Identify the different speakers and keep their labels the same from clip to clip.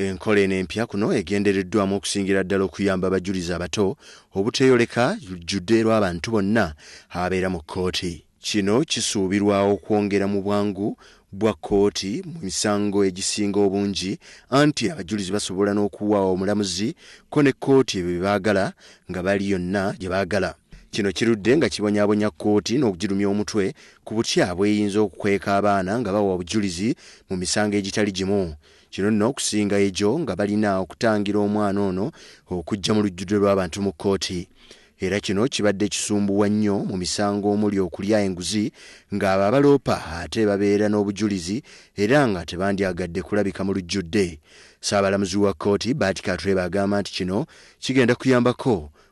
Speaker 1: Enkola eno empya kuno egendereddwamu okusingira ddala okuyamba abajulizi abato obuteeyoleka lujjudde lw'abantu bonna ababeera mu kkooti. Kino kisuubirwa okwongera mu bwangu bwa kkooti mu misango egisinga obungi anti abajulizi basobola n'okuwa omulamuzi ko ne kkooti ebyo bye baagala nga bali yonna gye baagala. Kino kirudde nga kibonyabonya kkooti n'okugirumya omutwe ku butya bw'eyinza okukweka abaana nga bawa obujulizi mu misango egitali gimu. Kino nno okusinga egyo nga balina okutangira omwana ono okujja mu lujjudde lw'abantu mu kkooti era kino kibadde kisumbuwa nnyo mu misango omuli okulya enguzi ng'abo abaloopa ate babeera n'obujulizi era nga tebandyagadde kulabika mu lujjudde. Ssaabalamuzi wa kkooti Bart Katurebe agamba nti kino kigenda kuyambako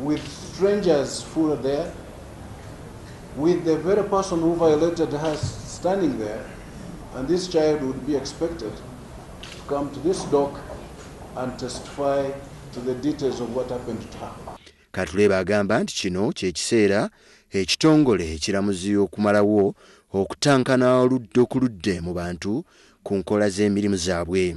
Speaker 2: with strangers who were there, with the very person who violated her standing there, and this child would be expected to come to this dock and testify to the details of what happened to her. Katuleba agamba
Speaker 1: nti kino kye kiseera ekitongole ekiramuzi okumalawo okutankana oludda okuludde mu bantu ku nkola z'emirimu zaabwe.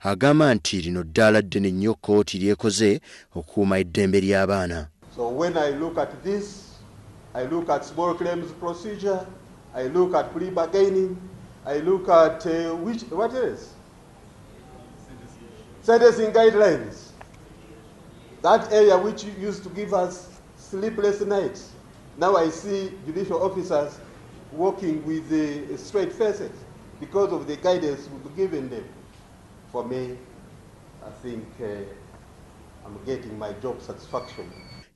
Speaker 1: Agamba nti lino ddaala ddene nnyo kkooti ly'ekoze okukuuma eddembe ly'abaana. So when I
Speaker 3: look at this, I look at small claims procedure, I look at plea bargaining, I look at which, what else? Sentencing guidelines, that area which used to give us. Sleepless nights now I see judicial officers walking with straight faces because of the guidance we've given them for me I think uh, I'm getting my job satisfaction.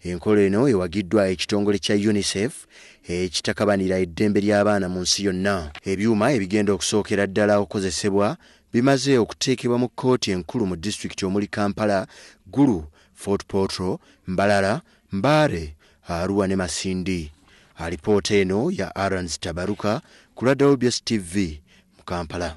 Speaker 3: Enkola eno
Speaker 1: ewagiddwa ekitongole kya UNICEF ekitakabanira eddembe ly'abaana mu nsi yonna. Ebyuma ebigenda okusookera ddala okukozesebwa bimaze okuteekebwa mu kkooti enkulu mu disitulikiti omuli Kampala, Gulu, Fort Portal, Mbarara, Mbale, Arua ne Masindi. Alipoota eno ya Arons Tabaruka ku Radar Obs TV mu Kampala.